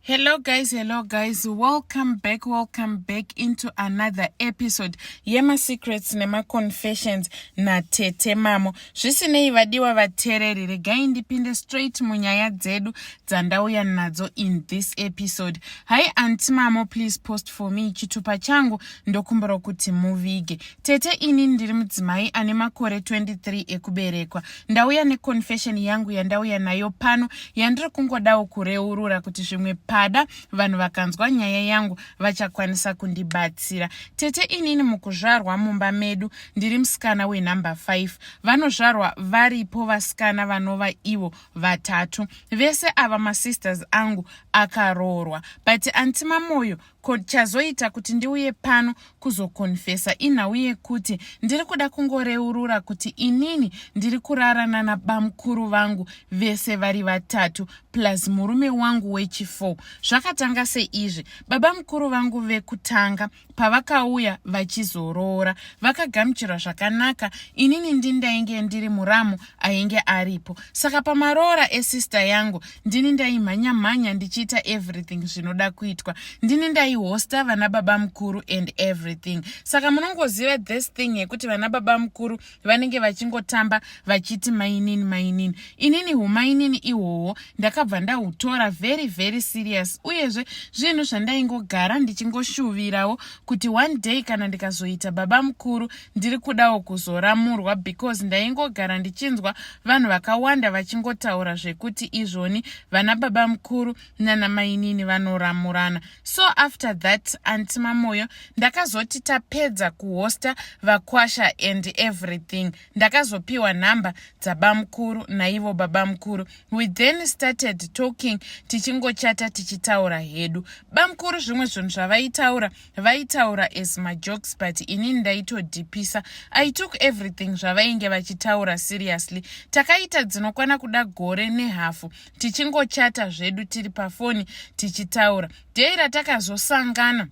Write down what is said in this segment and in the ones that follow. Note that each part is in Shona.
hello guys hello guys welcome back welcome back into another episode yemasecrets nemaconfessions natete mamo zvisinei vadiwa vatereri regai ndipinde straight munyaya dzedu dzandauya nadzo in this episode hi anti mamo please post for me chitupa changu ndokumbira kuti muvige tete ini ndiri mudzimai ane makore 23 ekuberekwa ndauya neconfession yangu yandauya nayo pano yandiri kungodawo kureurura kuti zvimwe pada vanhu vakanzwa nyaya yangu vachakwanisa kundibatsira tete inini mukuzvarwa mumba medu ndiri musikana wenumber 5 vanozvarwa varipo vasikana vanova ivo vatatu vese ava masisters angu akaroorwa but anti mamoyo Ko chazoita kuti ndiuye pano kuzokonfesa inhau yekuti ndiri kuda kungoreurura kuti inini ndiri kurara nana bamukuru vangu vese vari vatatu plus murume wangu wechifour zvakatanga seizvi baba mukuru vangu vekutanga pavakauya vachizoroora vakagamuchirwa zvakanaka inini ndindainge ndiri muramu ainge aripo saka pamaroora esister yangu ndini ndaimhanya mhanya ndichiita everything zvinoda kuitwa ndini ndaihosta vana baba mukuru and everything saka munongoziva this thing yekuti vana baba mukuru vanenge vachingotamba vachiti mainini mainini inini humainini ihwohwo ndakabva ndahutora very very serious uyezve zvinhu zvandaingogara ndichingoshuvirawo kuti one day kana ndikazoita baba mukuru ndiri kudawo kuzoramurwa because ndaingogara ndichinzwa vanhu vakawanda vachingotaura zvekuti izvoni vana baba mukuru nana mainini vanoramurana so after that anti mamoyo ndakazoti tapedza kuhosta vakwasha and everything ndakazopiwa nhamba dzabamukuru naivo babamukuru we then started talking tichingochata tichitaura hedu bamukuru zvimwe zvinhu zvavaitaura vaitaura as majokes but ini ndaitodhipisa i took everything zvavainge vachitaura seriously takaita dzinokwana kuda gore nehafu tichingochata zvedu tiri pafoni tichitaura dei ratakazosangana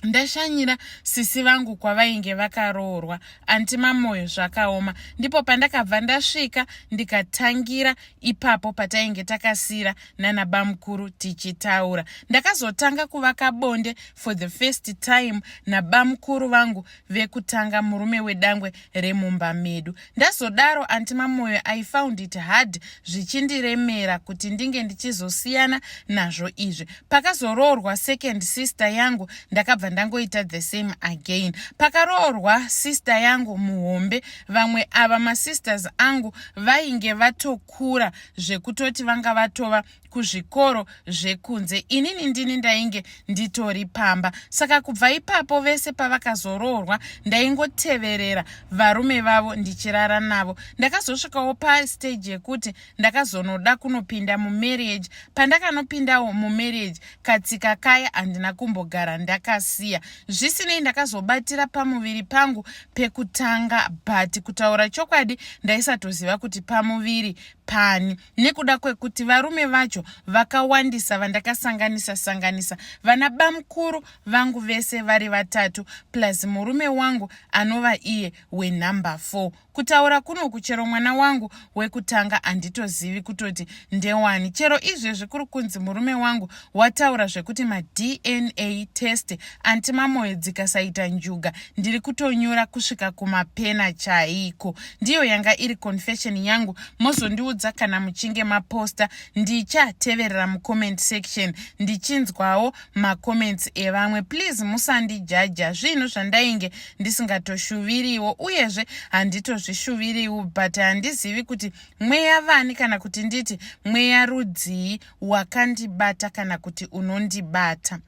ndashanyira sisi vangu kwavainge vakaroorwa anti mamoyo zvakaoma ndipo pandakabva ndasvika ndikatangira ipapo patainge takasira nana bamukuru tichitaura ndakazotanga kuvaka bonde for the first time nabamukuru vangu vekutanga murume wedangwe remumba medu ndazodaro anti mamoyo i found it hard zvichindiremera kuti ndinge ndichizosiyana nazvo izvi pakazoroorwa second sister yangu ndakabva ndangoita the same again pakaroorwa sister yangu muhombe vamwe ava masisters angu vainge vatoku vakakura zvekutoti vanga vatova kuzvikoro zvekunze inini ndini ndainge nditori pamba saka kubva ipapo vese pavakazoroorwa ndaingoteverera varume vavo ndichirara navo ndakazosvikawo pasteji yekuti ndakazonoda kunopinda mumarriage pandakanopindawo mumarriage katsika kaya handina kumbogara ndakasiya zvisinei ndakazobatira pamuviri pangu pekutanga but kutaura chokwadi ndaisatoziva kuti pamuviri pani nekuda kwekuti varume vacho vakawandisa vandakasanganisa sanganisa vana bamukuru vangu vese vari vatatu plus murume wangu anova iye wenumber four kutaura kunoku chero mwana wangu wekutanga handitozivi kutoti ndewani chero izvezvi kuri kunzi murume wangu wataura zvekuti madna test anti mamoyo dzikasaita njuga ndiri kutonyura kusvika kumapena chaiko ndiyo yanga iri confession yangu mozondiudza kana muchinge maposta ndichateverera mucomment section ndichinzwawo macomments evamwe please musandijaja zvinhu zvandainge ndisingatoshuviriwo uyezve handitozvishuviriwo but handizivi kuti mweya vani kana kuti nditi mweya rudzii wakandibata kana kuti unondibata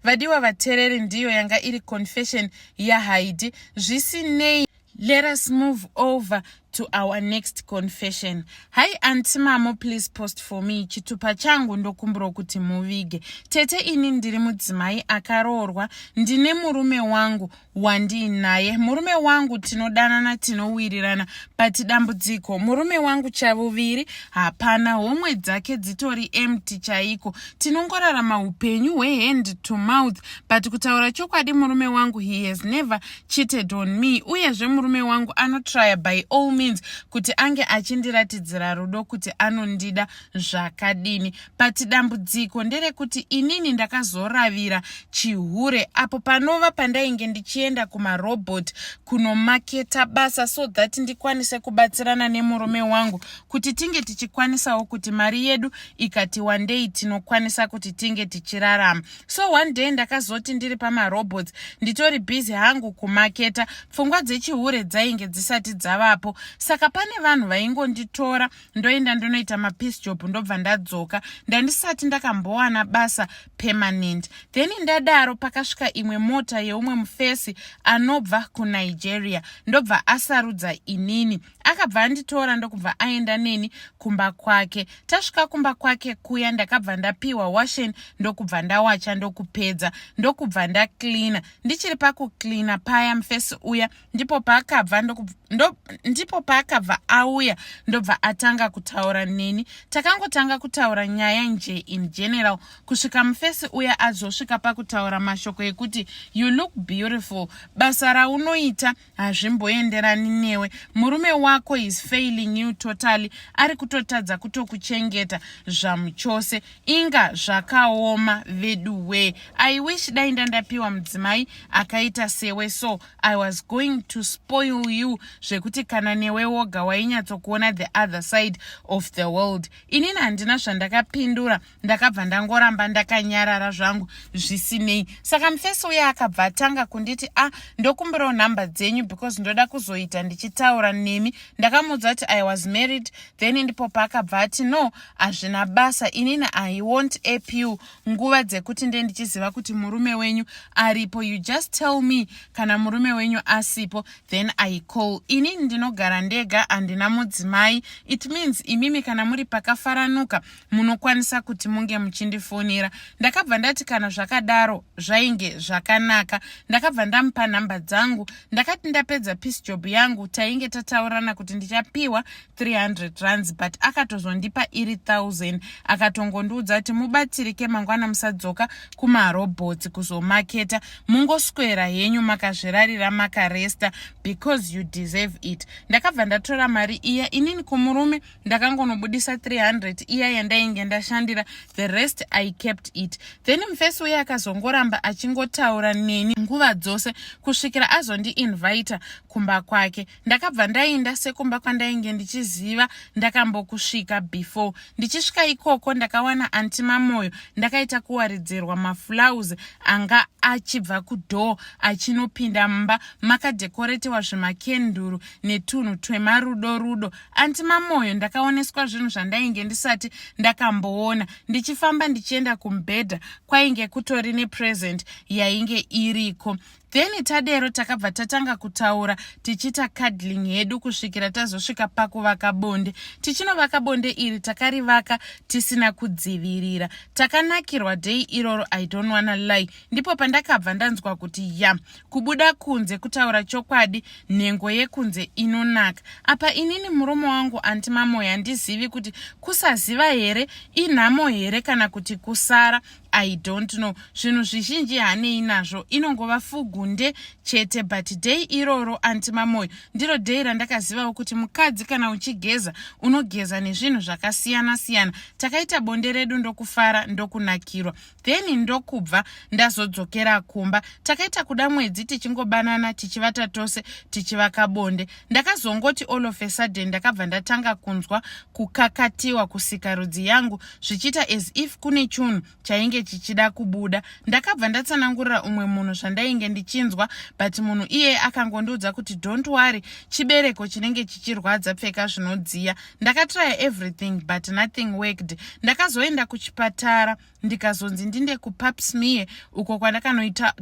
vadiwa vatereri ndiyo yanga iri confession yahaidi zvisinei Let us move over to our next confession. Hi anti mamo please post for me chitupa changu ndokumbirwa kuti muvige. Tete ini ndiri mudzimai akaroorwa ndine murume wangu wandiinaye. Murume wangu tinodanana tinowirirana but dambudziko murume wangu chavuviri hapana homwe dzake dzitori empty chaiko. Tinongorarama upenyu hwehand to mouth but kutaura chokwadi murume wangu he has never cheated on me uyezve murume wangu anotrya by all means kuti ange achindiratidzira rudo kuti anondida zvakadini but dambudziko nderekuti inini ndakazoravira chihure apo panova pandainge ndichienda kumarobot kunomaketa basa so that ndikwanise kubatsirana nemurume wangu kuti tinge tichikwanisawo kuti mari yedu ikati wandei tinokwanisa kuti tinge tichirarama so one day ndakazoti ndiri pamarobots nditori busy hangu kumaketa pfungwa dzechihure dzainge dzisati dzavapo saka pane vanhu vaingonditora ndoenda ndonoita mapeace job ndobva ndadzoka ndandisati ndakambowana basa permanent then ndadaro pakasvika imwe mota yeumwe mufesi anobva kunigeria ndobva asarudza inini akabva anditora ndokubva aenda neni kumba kwake tasvika kumba kwake kuya ndakabva ndapiwa washen ndokubva ndawacha ndokupedza ndokubva ndacleana ndichiri pakucleana paya mufesi uya ndipo paakabva ndo, ndipo paakabva auya ndobva atanga kutaura neni takangotanga kutaura nyaya nje in general kusvika mufesi uya azosvika pakutaura mashoko ekuti you look beautiful basa raunoita hazvimboenderani newe murume wako is failing you totally ari kutotadza kutokuchengeta zvamuchose inga zvakaoma vedu wee i wish dai ndandapiwa mudzimai akaita sewe so i was going to spoil you zvekuti kana newe woga wainyatsokuona the other side of the world inini handina zvandakapindura ndakabva ndangoramba ndakanyarara zvangu zvisinei saka mufesi uye akabva atanga kunditi a ah, ndokumbirawo nhamba dzenyu because ndoda kuzoita ndichitaura nemi ndakamuudza kuti i was married then ndipo paakabva ati no hazvina basa inini i wont ap you nguva dzekuti nde ndichiziva kuti murume wenyu aripo you just tell me kana murume wenyu asipo then i call inini ndinogara ndega handina mudzimai it means imimi kana muri pakafaranuka munokwanisa kuti munge muchindifonera ndakabva ndati kana zvakadaro zvainge zvakanaka ndakabva ndamupa nhamba dzangu ndakati ndapedza peace job yangu tainge tataurana kuti ndichapiwa 300 rands but akatozondipa iri 1000 akatongondiudza kuti mubatsirike mangwana musadzoka kumarobhots kuzomaketa mungoswera henyu makazvirarira makaresta because you deserve it ndakabva ndatora mari iya inini kumurume ndakangonobudisa 300 iya yandainge ndashandira the rest i kept it then mufesi uye akazongoramba achingotaura neni nguva dzose kusvikira azondiinvita kumba kwake ndakabva ndainda sekumba kwandainge ndichiziva ndakambokusvika before ndichisvika ikoko ndakawana anti mamoyo ndakaita kuwaridzirwa maflause anga achibva kudoor achinopinda mumba makadekoretewa zvemakenduru netunhu twemarudo rudo anti mamoyo ndakaoneswa zvinhu zvandainge ndisati ndakamboona ndichifamba ndichienda kumubhedha kwainge kutori nepresent yainge iriko then tadero takabva tatanga kutaura tichiita cadling hedu kusvikira tazosvika pakuvaka bonde tichinovaka bonde iri takarivaka tisina kudzivirira takanakirwa day iroro i don't wanna lie ndipo pandakabva ndanzwa kuti ya kubuda kunze kutaura chokwadi nhengo yekunze inonaka apa inini murume wangu anti mamoyo handizivi kuti kusaziva here inhamo here kana kuti kusara i don't know zvinhu zvizhinji hanei nazvo inongova fugunde chete but day iroro anti mamoyo ndiro day randakazivawo kuti mukadzi kana uchigeza unogeza nezvinhu zvakasiyana siyana takaita bonde redu ndokufara ndokunakirwa then ndokubva ndazodzokera kumba takaita kuda mwedzi tichingobanana tichivata tose tichivaka bonde ndakazongoti all of a sudden ndakabva ndatanga kunzwa kukakatiwa kusikarudzi yangu zvichiita as if kune chunhu chainge chichida kubuda ndakabva ndatsanangurira umwe munhu zvandainge ndichinzwa but munhu iyeye akangondiudza kuti don't worry chibereko chinenge chichirwadza pfeka zvinodziya ndakatraya everything but nothing worked ndakazoenda kuchipatara ndikazonzi ndinde kupapsmie uko kwandakanoitwa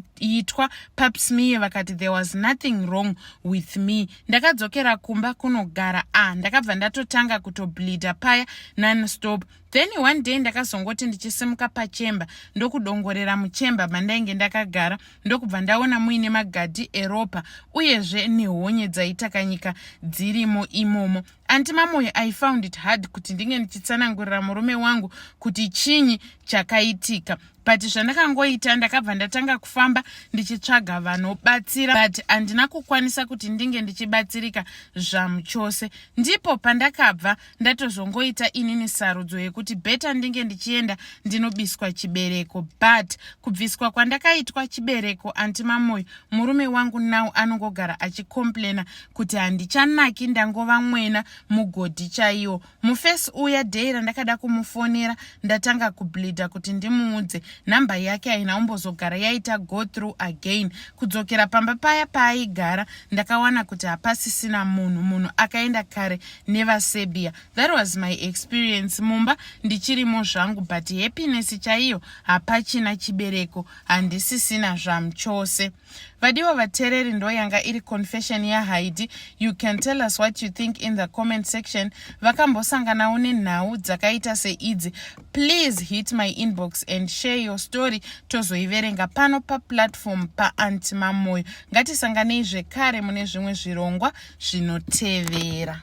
papsmie vakati there was nothing wrong with me ndakadzokera kumba kunogara a ah, ndakabva ndatotanga kutobleeda paya nonstop then one day ndakazongoti ndichisimuka pachemba ndokudongorera muchemba mandainge ndakagara ndokubva ndaona muine magadhi eropa uyezve nehonye dzaitakanyika dzirimo imomo anti mamoyo i found it hard kuti ndinge ndichitsanangurira murume wangu kuti chinyi chakaitika but zvandakangoita ndakabva ndatanga kufamba ndichitsvaga vanobatsira but handina kukwanisa kuti ndinge ndichibatsirika zvamuchose ndipo pandakabva ndatozongoita inini sarudzo yekuti beta ndinge ndichienda ndinobiswa chibereko but kubviswa kwandakaitwa chibereko anti mamoyo murume wangu now anongogara achicomplaina kuti handichanaki ndangova mwena mugodhi chaiwo mufesi uya day randakada kumufonera ndatanga kubleeda kuti ndimuudze nhamba yake haina umbozogara yaita go through again kudzokera pamba paya paaigara ndakawana kuti hapasisina munhu munhu akaenda kare nevaserbia that was my experience mumba ndichirimo zvangu but happiness chaiyo hapachina chibereko handisisina zvamchose vadiwa vatereri ndo yanga iri confession yahaidi you can tell us what you think in the comment section vakambosanganawo nenhau dzakaita seidzi please hit my inbox and share your story tozoiverenga pano paplatform paanti mamoyo ngatisanganei zvekare mune zvimwe zvirongwa zvinotevera